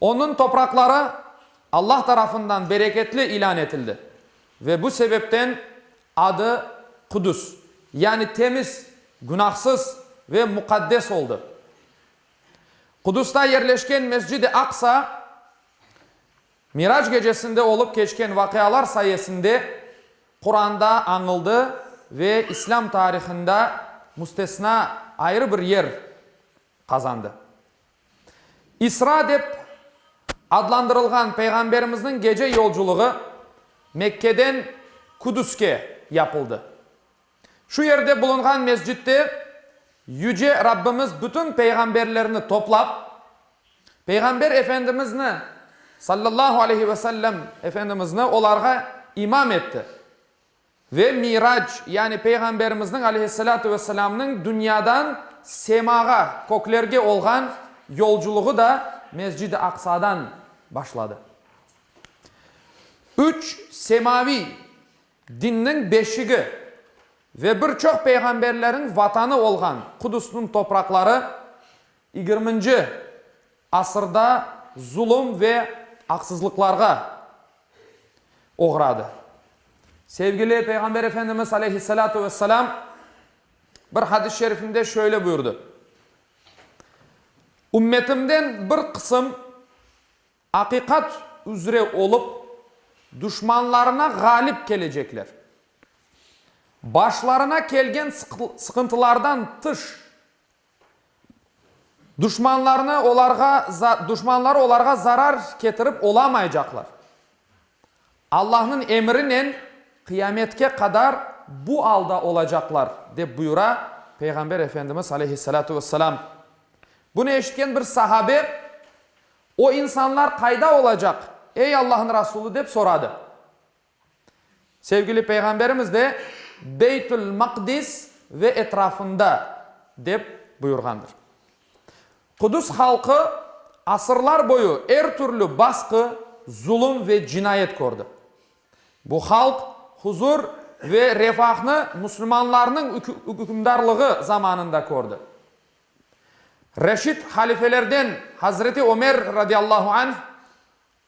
Onıñ topraqları Allah tarafından bereketli ilân etildi ve bu sebepten adı Qudüs, yani temiz, günahsız ve muqaddes oldı. Qudüsda yerleşken Mescid-i Aqsa, Mirac gecesinde olıp keçken vaqialar sayesinde Quranda añıldı ve İslâm tarihında müstesna ayrı bir yer qazandı. İsra dep adlandırılğan Peyğamberimizniñ gece yolculığı Mekkeden Kudüske yapıldı. Şu yerde bulunğan mescitte Yüce Rabbimiz bütün peyğamberlerni toplap, Peyğamber Efendimizni, sallallahu aleyhi ve sellem, Efendimizni olarğa imam etti. Ve Mi'rac, yani Peyğamberimizniñ aleyhissalâtu vesselâmnıñ dünyadan semağa, köklerge olğan yolculuğı da Mescid-i Aqsadan başladı. Üç semaviy dinniñ beşigi ve bir çoq peyğamberleriñ vatanı olğan Qudusnıñ topraqları yigirminci, asırda zulum ve aqsızlıqlarğa oğradı. Sevgili Peyğamber Efendimiz aleyhissalâtu vesselâm bir hadis-i şerifinde şöyle buyurdı, Ümmetimden bir qısım aqiqat üzre olıp, duşmanlarına ğalip kelecekler. Başlarına kelgen sıqıntılardan tış, Duşmanlarnı olarğa za, duşmanları olarğa zarar ketirip olamaycaqlar. Allahnıñ emrinen qıyametke qadar bu alda olacaqlar, dep buyura Peyğamber Efendimiz aleyhissalâtu vesselâm. Bunı eşitken bir sahabe, O insanlar qayda olacaq, ey Allahnıñ Rasulı? dep soradı. Sevgili Peyğamberimiz de, Beytül-Maqdis ve etrafında, dep buyurğandır. Qudüs halqı asırlar boyu er türlü basqı, zulum ve cinayet kördi. Bu halq huzur ve refahnı müslümanlarnıñ ükümdarlığı zamanında kördi. Reşid halifelerden Hazreti Ömer, radiallahu anh,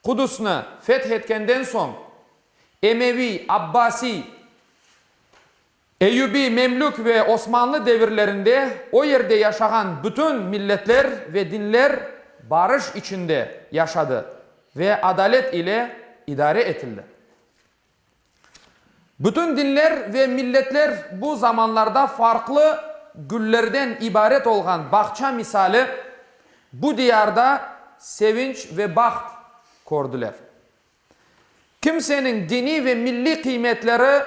Qudusnı feth etkenden soñ, Emeviy, Abbasiy, Eyyubiy, Memlük ve Osmanlı devirlerinde o yerde yaşağan bütün milletler ve dinler barış içinde yaşadı ve adalet ile idare etildi. Bütün dinler ve milletler bu zamanlarda farqlı güllerden ibaret olğan bağça misali bu diyarda sevinç ve baht kördiler. Kimseniñ diniy ve milliy qıymetleri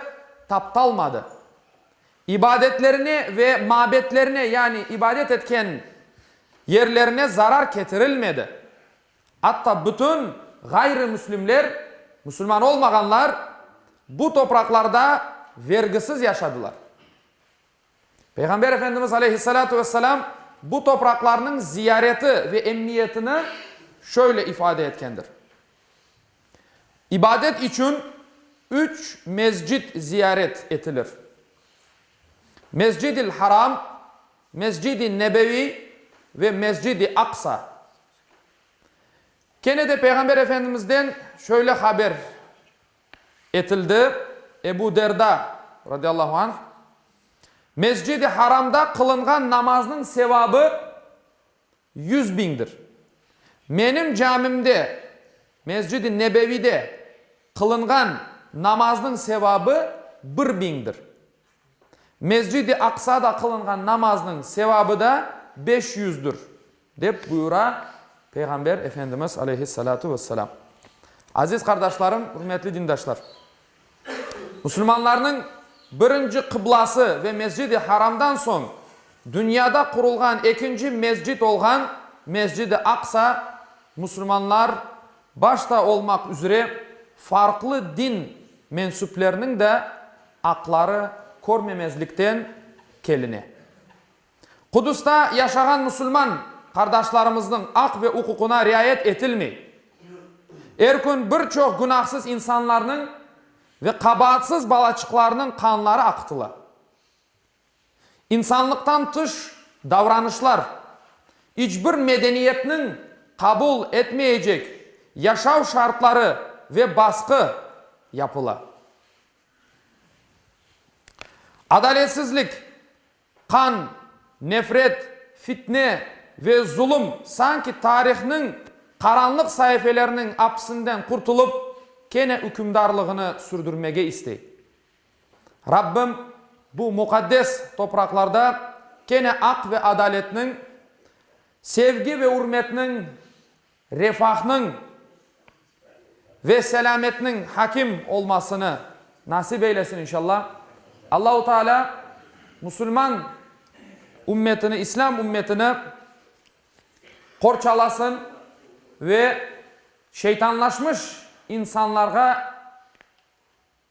taptalmadı. İbadetlerine ve mabetlerine, yani ibadet etken yerlerine zarar ketirilmedi. Atta bütün ğayrımüslimler, musulman olmağanlar, bu topraqlarda vergisiz yaşadılar. Peyğamber Efendimiz aleyhissalâtu vesselâm bu topraqlarnıñ ziyareti ve emmiyetini şöyle ifade etkendir, İbadet içün üç mescit ziyaret etilir, Mescid-i Haram, Mescid-i Nebeviy ve Mescid-i Aqsa. Kene de Peyğamber Efendimizden şöyle haber etildi, Ebu Derda, radiyallahu anh, Mescid-i Haramda qılınğan namaznıñ sevabı yüz biñdir. Menim camimde, Mescid-i Nebevide, qılınğan namaznıñ sevabı bir biñdir. Mescid-i Aqsada qılınğan namaznıñ sevabı da beş yüzdür, Dep buyura Peyğamber Efendimiz aleyhissalâtu vesselâm. Aziz qardaşlarım, ürmetli dindaşlar! Musulmanlarnıñ birinci qıblası ve Mescid-i Haramdan soñ dünyada qurulğan ekinci mescid olğan Mescid-i Aqsa musulmanlar başta olmaq üzre farqlı din mensüpleriniñ de aqları körmemezlikten keline. Qudusta yaşağan musulman qardaşlarımıznıñ aq ve uquqına riayet etilmey. Er kün bir çoq günahsız insanlarnıñ ve qabaatsız balaçıqlarnıñ qanları aqıtıla. İnsanlıqtan tış davranışlar, iç bir medeniyetniñ qabul etmeyecek yaşav şartları ve basqı yapıla. Adaletsizlik. Qan, nefret, fitne ve zulum sanki tarihnıñ qaranlıq saifelerniñ apisinden qurtulıp, kene ükümdarlığını sürdürmege istey. Rabbim bu muqaddes topraqlarda kene aq ve adaletniñ, sevgi ve ürmetniñ, refahnıñ ve selâmetniñ hakim olmasını nasip eylesin inşalla. Allahu Teala musulman ümmetini, İslâm ümmetini qorçalasın ve şeytanlaşmış insanlarğa,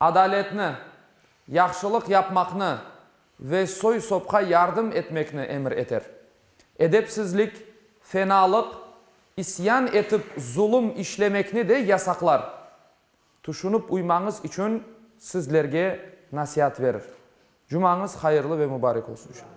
Adaletni, yahşılıq yapmaqnı ve soy-sopqa yardım etmekni emir eter. Edepsizlik, fenalıq, isyan etip zulum işlemekni de yasaqlar. Tüşünip uymañız içün sizlerge nasiat verir. Cumañız hayırlı ve mübarek olsun inşallah.